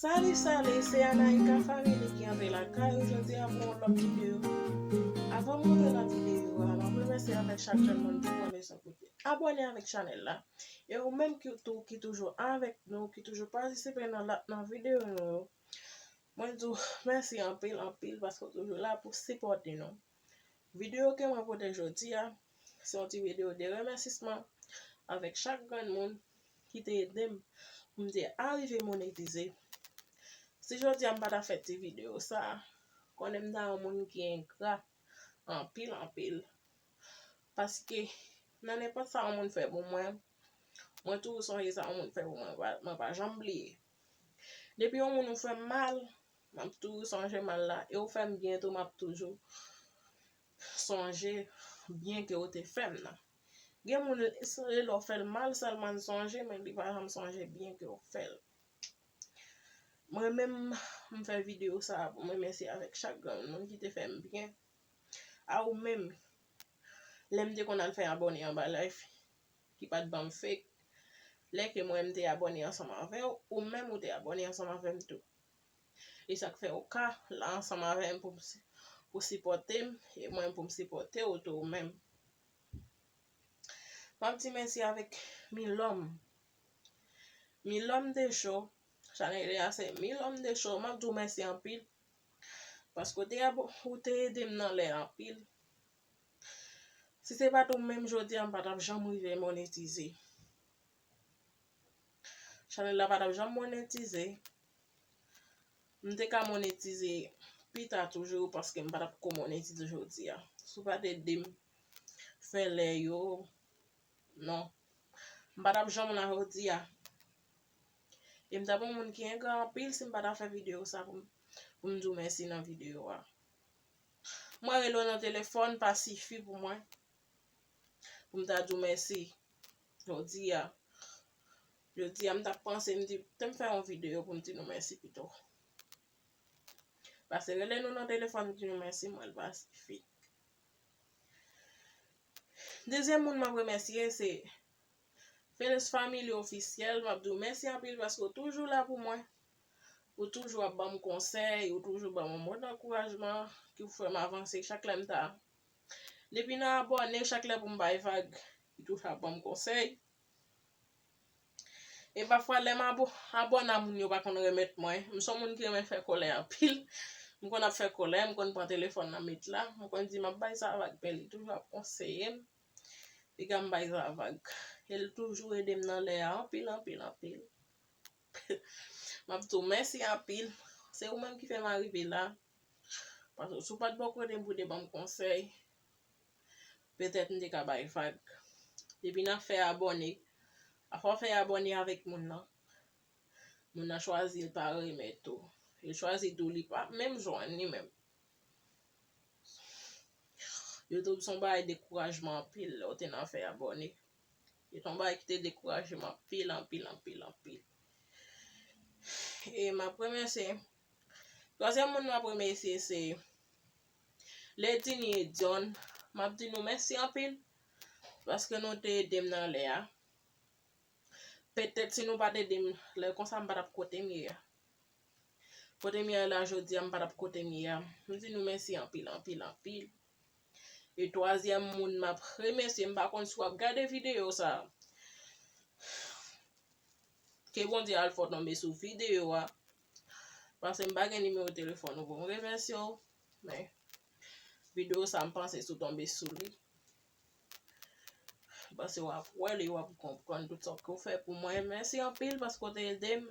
Salut salut se Anaïka family ki antre lakay ou jodi a pou yon lòt video avan m rantre nan video a map remèsye avèk chak jèn moun ki pran leson pou li abòne avèk chanèl la e ou menm ki tou ki toujou avèk nou ki toujou patisipe nan lòt nan video nou yo mwen di w mèsi anpil anpil paske w toujou la pou sipòte nou. Video ke mwen pote jodi a, se yon ti video de remèsisman avèk chak grenn moun ki te ede m pou m te arive monetize. Si jodi a m pa ta fè ti video sa, konnen m ta yon moun ki engra anpil anpil. Paske nan nenpòt sa yon moun fè pou mwen, mwen toujou sonje sa yon moun fè pou mwen, mwen pa janm bliye. Depi yon moun ou fè mal, Map toujou sonje mal la e ou fem byen tou map toujou sonje byen ke ou te fem nan. Gen moun se lè ou fel mal selman li sonje men li pa janm sonje byen ke ou fel. Mwen menm m fe video sa pou m remesye avek chak grenn moun ki te fem byen. A ou menm lè m te konn al fe abone anba live ki pat banm fake lè ke mwen m te abone ansanm avew ou menm ou te abone ansanm avem tou. E sak fè ou ka la ansanm avèm pou pou sipòtem e mwen pou m sipòte ou tou ou menm. Map di mèsi avèk Milòm. Milòm de cho, chanèl li a se Milòm de cho, map di ou mèsi anpil paske ou te ap ou te edem nan lè anpil. Si se pat ou menm jodi a m pa tap janm rive monetize. Chanel la pa tap janm monetize. M te ka monetize pita toujou paske m pa tap ko monetize jodi a. Si w pa te ede m fè lè yo, non. M pa tap janm la jodi a. E m tap yon moun ki engra anpil si m pa ta fè video sa pou m di w mèsi nan video a. Mwen rele w nan telefòn pa sifi pou mwen pou m ta di w mèsi. Jodi a, jodi a m t ap panse m di te m fè yon videyo pou m di nou mèsi pito. Pase rele nou nan telefòn di nou mèsi m wè l pa sifi. Dezyèm moun m ap remèsye se Fenus Family Officiel, m ap di w mèsi anpil paske ou toujou la pou mwen. Ou toujou ap ban m konsèy, ou toujou ban m yon mo dankourajman ki pou fè m avanse chak lè m ta Depi nan abòne chak lè pou m bay vag li toujou ap ban m konsèy. E pafwa lè m abona moun yo pa konn remèt mwen. M son moun ki renmen fè kòlè anpil. M konn ap fè kòlè, m konn pran telefòn nan met la. M konn di m ap bay sa vag men li toujou ap konseye m. Piga m bay sa vag. E l toujou ede m nan lè a anpil anpil anpil. M ap di w mèsi anpil. Se ou menm ki fè m arive la. Paske si w pat bò kote m pou w te ban m konsèy, petèt m te ka bay vag. Depi nan fè abòne, afè w fè abòne avèk moun nan, moun nan chwazi l pa remèt ou. Li chwazi tou li pa menm jwenn li menm. Youtube se yon bagay dekourajman anpil lè w te nan fè abòne. Se yon bagay ki te dekouraje m anpil, anpil, anpil, anpil. E m ap remèsye Twazyèm moun map remesye se Ledinie John map di nou mèsi anpil paske nou te edem nan lè a petèt si nou pat edem lè konsa m pa tap kotem ye a kotem ye la jodi a m pa tap kotem ye a m di nou mèsi anpil anpil anpil e twazyèm moun map remesye m pa konn si wap gade video sa ke Bondye al fò tonbe sou video a Paske m pa gen nimewo telefòn ou pou m remèsye w, men videyo sa m panse si w tonbe sou li, m panse w ap wè li, w ap konprann tout sa ke w fè pou mwen. Mèsi anpil paske w te ede m.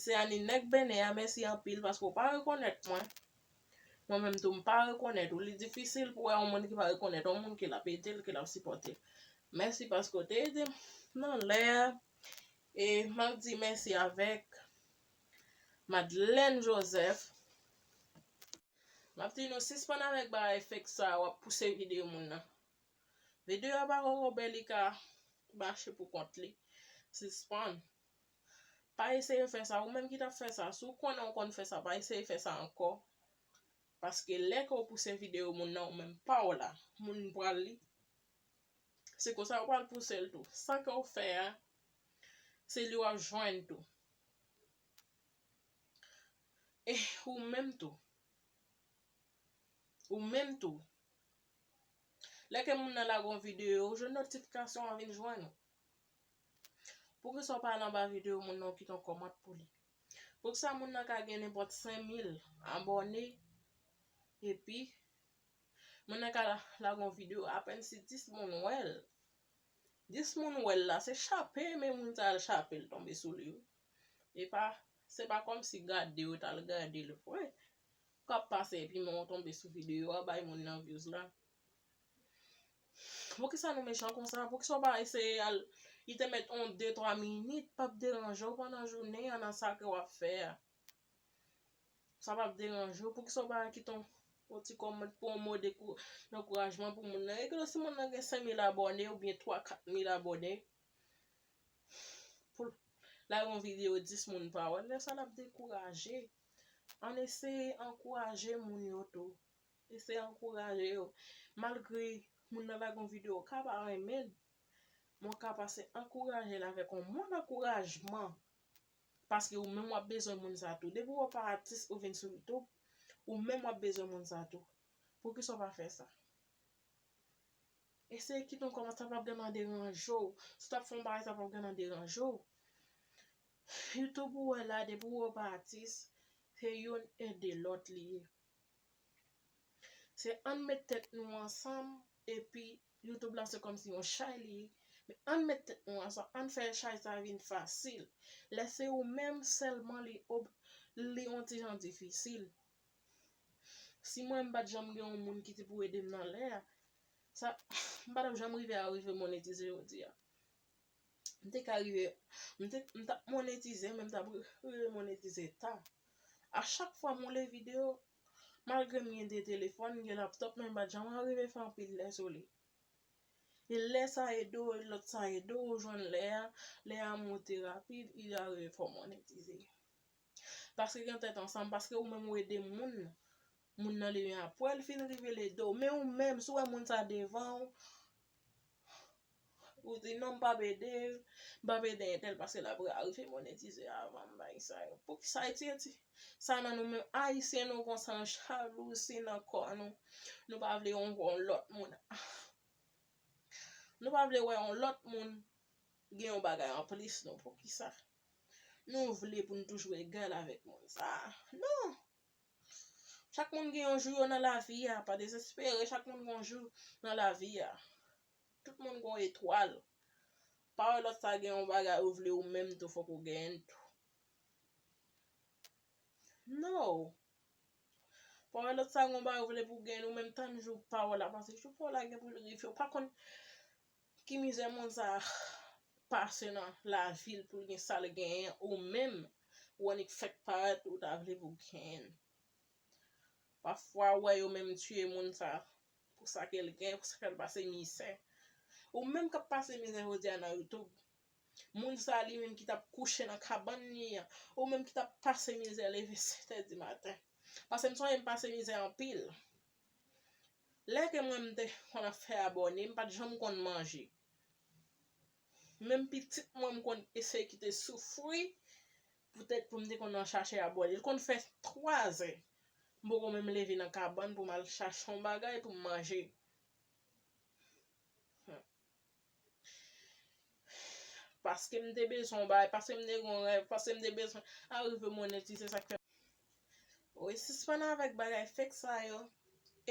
Se Annie nèg Benè a, mèsi anpil paske w pa rekonèt mwen. Mwen menm tou m pa rekonèt ou. Li difisil pou wè yon moun ki pa rekonèt yon moun ke l ap ede l, ke l ap sipòte l. Mèsi paske w te ede m nan lè a. E map di mèsi avèk Madlèn Joseph. Map di nou sispann avèk bagay fake sa wap pouse video moun nan. Video a pa poko bèl li ka mache pou kont li. Sispann. Pa eseye fè sa ou menm ki tap fè sa si w konnen ou konn fè sa pa eseye fè sa ankò paske lè ke w pouse video moun nan ou menm pa w la moun pral li. Se konsa ou pral pouse l tou. Sa ke w fè a, se li w ap jwenn tou. E ou menm tou. Ou menm tou. Lè ke moun nan lage yon videyo, ou jwenn notifikasyon an vin jwenn ou. Poukisa ou pa al anba videyo moun nan ou kite yon kòmant pou li? Poukisa moun nan ka gen nenpòt 5000 abòne epi Moun nan ka lage yon video apèn si 10 moun wèl. 10 moun wèl la se chape men moun sa al chapel tonbe sou li wi. Epa se pa kòm si gade yo tal gadel vre. Kap pase epi menw tonbe sou video a bay moun nan vyouz la. Poukisa nou mechan konsa poukisa ou pa eseye al li te mèt yon 2 3 minit pap deranjew pandan jounen an nan sa ke wap fè a. Sa pap deranje w, poukisa w pa kite yon ti kòmant pou yon mo dankourajman pou moun nan. E gade si moun nan gen 5000 abòne oubyen 3, 4000 abòne. Pou l lage yon videyo 10 moun pa wè l, lè sa l ap dekouraje. Ann eseye ankouraje moun yo tou. Eseye ankouraje yo. Malgre moun nan lage yon videyo w ka pa renmen l, men w ka pase ankouraje l avèk yon mo dankourajman. Paske ou menm wap bezwen moun sa tou. Depi wè w pa atis ou vin sou youtube ou menm wap bezwen moun sa tou. Poukisa w pa fè sa. Eseye kite yon kòmantè sa pap gen nan deranje w. Si w tap fè yon bagay sa pap gen nan deranje w. Youtube ou wè la depi w wè w pa atis se youn ede lòt li ye. Se ann met tèt nou ansanm epi YouTube la se kòmsi yon chay li ye men ann met tèt nou ansanm ann fè chay sa vin fasil lè se ou menm sèlman li ob li on ti jan difisil si mwen m pat janm gen yon moun ki te pou ede m nan lè a sa m pa tap janm rive arive monetize jodi a. M te ka rive m te m tap monetize men m tap rive monetize ta. A chak fwa m woule video malgre m gen 2 telefòn, m gen laptòp men m pat janm arive fè anpil lè sou li. E lè sa ede w, lòt sa ede w, ou jwenn lè a, lè a monte rapid, e ou arive fè w monetize. Paske gen tèt ansanm, paske ou menm ou ede moun, moun nan li men apwè li fin rive l ede w, men ou menm si w wè moun sa devan w, ou di non m pap ede l, m pap ede entèl paske l ap rive monetize avan m, bagay sa yo. Poukisa ayiti, sa nan nou menm, ayisyen nou konsa nou jalouzi nan kò nou, nou pa vle yon wè yon lòt moun, nou pa vle wè yon lòt moun gen yon bagay anplis nou, poukisa? Nou vle pou n toujou egal avèk moun sa a? Non! Chak moun gen yon jou yo nan lavi a, pa dezespere, chak moun gen yon jou nan lavi a. Tout moun gen yon etwal. Pa wè lòt sa gen yon bagay ou vle ou menm tou fòk ou genyen l tou? Non! Pa wè lòt sa gen yon bagay ou vle pou w genyen l ou menm tann jou pa w la, paske jou pa w la gen pou l rive, ou pa konn Ki mizè moun sa pase nan lavil poul gen sal genyen ou menm ou annik fèk parèt ou ta vle pou genyn pafwa ou wè yo menm tiye moun sa pou sa kel gen pou sa kal pase mizè ou menm kap pase mizè jodia nan YouTube moun sa li menm ki tap kouche nan kabann li an ou menm ki tap pase mizè leve 7 è di maten paskem sonje m pase mizè anpil Lè ke mwen m te konn ap fè abòne m pat janm konn manje. Menm pitit mwen m konn eseye kite soufri poutèt pou m te konn al chache abòne. Li konn fè 3 zè m poko menm leve nan kabann pou m al chache yon bagay pou m manje. Paske m te bezwen yon bagay, paske m te gen yon rèv, paske m te bezwen arive monetize sa k fè. Wi, sispann avèk bagay fake sa yo.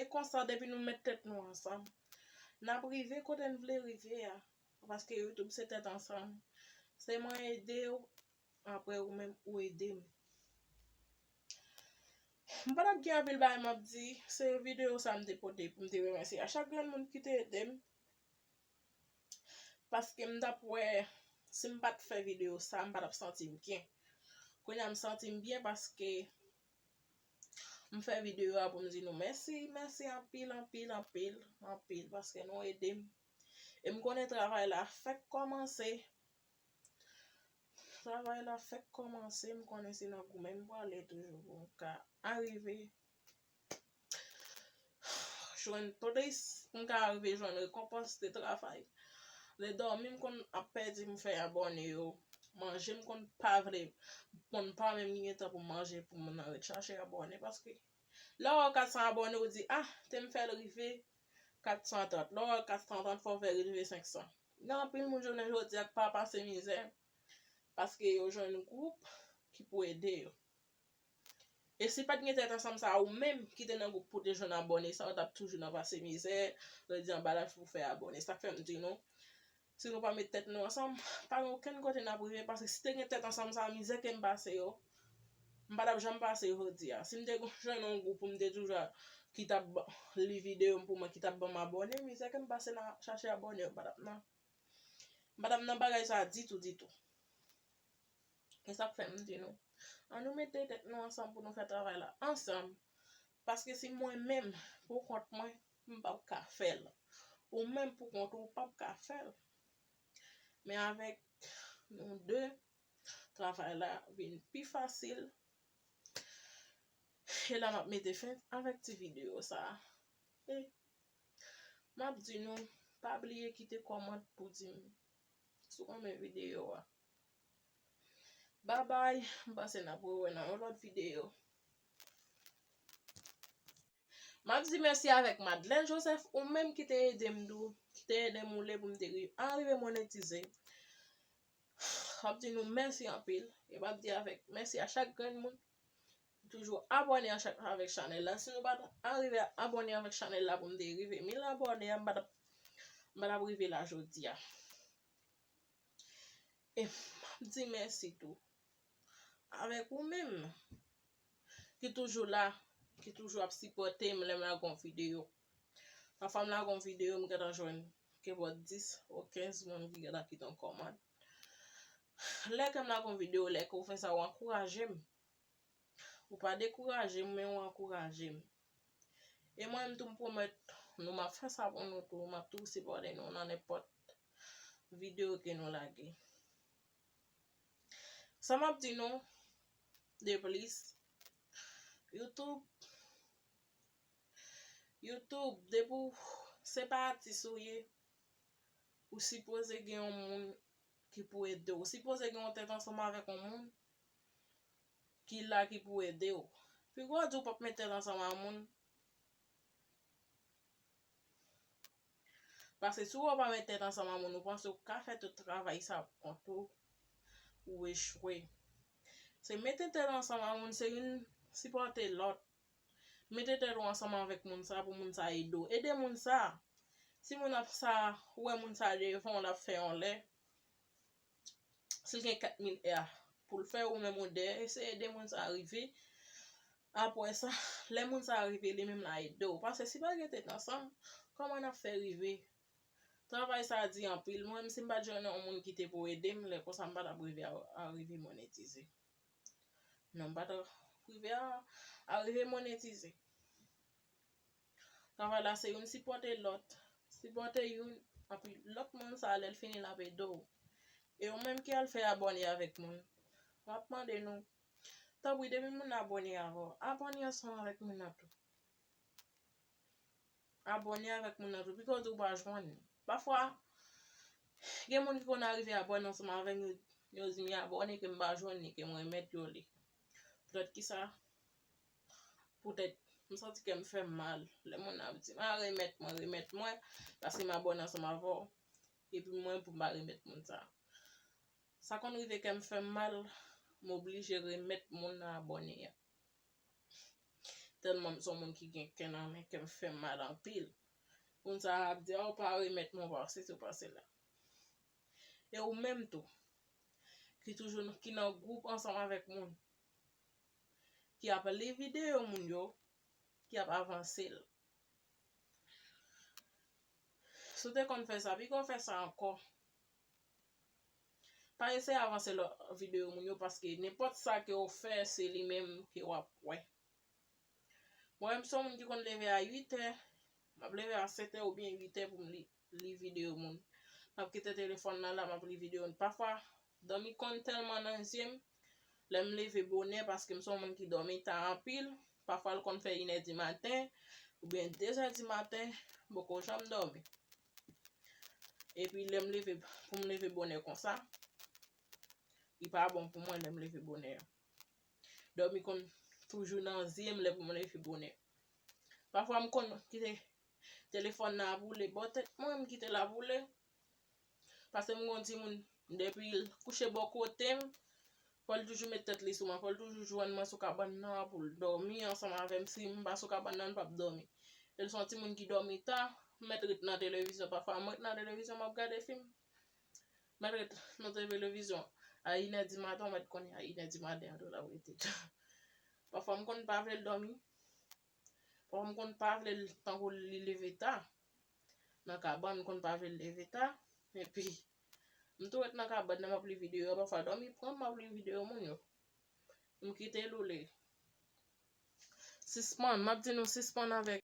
E konsa depi nou met tèt nou ansanm, n ap rive kote n vle rive a. Paske YouTube se tèt ansanm. Se mwen ede ou, apre ou menm ou ede m. M pa t ap gen anpil bagay m ap di, se videyo sa m te pote pou m te remèsye a chak grenn moun ki te ede m. Paske m tap wè si m pat fè video sa m pa tap santi m byen. Kounya m santi m byen paske m fè video a pou m di nou mèsi, mèsi anpil, anpil, anpil, anpil paske nou ede m. E m konnen travay la fèk kòmanse. Travay la fèk kòmanse m konnen se nan goumen m pwale toujou pou m ka arive. Jwenn plis m ka rive jwenn rekonpans de travay. Lè dòmi m konn ap pèdi m fè abòne yo. Manje m konn pa vle, m konn pa menm gen tan pou m manje pou m nan ret chache abòne paske lè w wè 400 abòne ou di ah te m fè l rive 430, lè w wè 430 fò w fè l rive 500. Gen anpil moun jounen jodi a k pa pase mizè paske yo jwenn gwoup ki pou ede yo. E si pat gen tèt ansanm sa ou menm ki te nan gwoup pou te jwenn abòne sa ou tap toujou nan pase mizè, redi anba laj pou fè abòne. Sak fèm di nou, si nou pa met tèt nou ansanm, pa gen okenn kote nap rive paske si te gen tèt ansanm sa mizè kem pase yo, m pa tap janm pase yo jodi a. Sim te jwenn yon gwoup pou m te toujou ki tap li videyo m pou mwen ki tap banm abòne, mizè kem pase nan chache abòne yo pa tap nan m pa tap nan bagay sa ditou ditou. E sa k fè m di nou, an nou mete tèt nou ansanm pou nou fè travay la ansanm, paske si mwen menm pou kont mwen, m p ap ka fè l, ou menm pou kont ou, ou p ap ka fè l, men avèk nou de, travay la vin pi fasil. E la m ap mete fen avèk ti videyo sa a. E m ap di nou, pa bliye kite kòmant pou di m sou on men videyo a. Babay, m panse n ap rewè nan yon lòt videyo. M ap di mèsi avèk Madlèn Josèf ou menm ki te ede m tou, ki te ede m oule pou m te arive monetize. M ap di nou mèsi anpil e m ap di avèk mèsi a chak grenn moun M toujou abòne anchak avèk chanèl la si nou pat arive abòne avèk chanèl la pou m te rive 1000 abòne m pa tap m pa tap rive la jodia e map di mèsi tou avèk ou menm ki toujou la ki toujou ap sipòte m lè m lage yon videyo pafwa m lage yon videyo m gentan jwenn ke bò 10 ou 15 moun ki gentan kite yon kòmant lè ke m lage yon videyo lè ke ou fè sa ou ankouraje m Ou pa dekouraje m men ou ankouraje m. E mwen menm tou m pwomèt nou m ap fè sa pou nou tou, m ap toujou sipòte nou nan nenpòt videyo ke nou lage. Sa m ap di nou deplis, YouTube, YouTube depi w se pa atis ou ye, ou sipoze gen yon moun ki pou ede w, ou sipoze gen yon tèt ansanm avèk yon moun ki la ki pou ede w. Pi gwo di w pap mete l ansanm a moun. Paske si w wè w pa met tèt ansanm a moun ou panse w ka fè tout travay sa pou kont ou, ou echwe. Se mete tèt ansanm a moun se youn sipòte lòt. Mete tèt ou ansanm avèk moun sa pou moun sa ede w. Ede moun sa. Si moun ap sa wè moun sa devan w l ap fè yon lè. sil gen 4000 èa poul fè ou menm ou de eseye ede moun sa rive apwè sa lè moun sa rive li menm la ede ou pase si pa gen tèt ansanm kòman nap fè rive travay sa di anpil mwen menm si mpat jwenn yon moun ki te pou edem lè konsa mpa tap rive arive monetize non mpa tap rive arive monetize. Travay la se youn sipòte lòt. Sipòte youn, anpi lòt moun sa a lè l fini l ap ede w. E ou menm ki al fè abòne avèk moun, m ap mande nou, tanpri depi moun nan abòne avè w, abòne ansanm avèk moun nan tou. Abòne avèk moun nan tou, pito di ou pa jwenn li. Pafwa, gen moun ki konn arive abòne ansanm avè m, yo di m, y abòne ke m pa jwenn li, ke m remèt yo li. Poutèt ki sa? poutèt m santi kè m fè m mal lè moun nan ap di m a remèt mwen, remèt mwen paske m abòne ansanm avè w epi mwen pou m pa remèt moun sa a. Sa konn rive kè m fè m mal, m oblije remèt moun nan abòne a. Tèlman m son moun ki gen kè nan men kè m fè m mal anpil. Moun sa a ap di a ou pa remèt mwen ou pa sesi ou pa sela. E ou menm tou ki toujou ki nan gwoup ansanm avèk moun ki ap li videyo moun yo, ki ap avanse l. Si w te konn fè sa, pike w fè sa ankò. Pa eseye avanse lòt videyo moun yo paske nenpòt sa ke w fè se li menm ke w ap wè. Mwen menm m son moun ki konn leve a 8 è, m ap leve a 7 è oubyen 8 è pou m li li video moun. Map kite telefòn nan la map li video moun. Pafwa dòmi konn tèlman nan zyem, lèm leve bonè paskem son moun ki dòmi ta anpil, pafwa l konn fè inè di maten oubyen dezè di maten m poko janm dòmi. Epi lèm leve poum leve bonè konsa, li pa bon pou mwen lèm leve bonè. Dòmi konn toujou nan zyem lè poum leve bonè. Pafwa m konn kite Telefòn nan ap woule bò tèt mwen, m kite l ap woule. Pase m gen yon timoun, depi l kouche bò kote m, fò l toujou met tèt li sou mwen, fò l toujou jwenn mwen sou kabann nan pou l dòmi ansanm avè m. Si m pa sou kabann nan, l pap dòmi. E l se yon timoun ki dòmi ta, m mèt ret nan televizyon. Pafwa m ret nan televizyon m ap gade fim. M mèt ret nan televizyon a inè di maten, ou mèt konnen a inè di maten an tou l ap rete. Pafwa m konn pa vle l dòmi. Papa m konn pa vle l tankou li leve ta nan kabann, m konn pa vle l leve ta, epi m tou ret nan kabann nan m ap li videyo, pafwa dòmi pran m, m ap li videyo moun yo. M kite Loulou. Sispann, m ap di nou sispann avèk.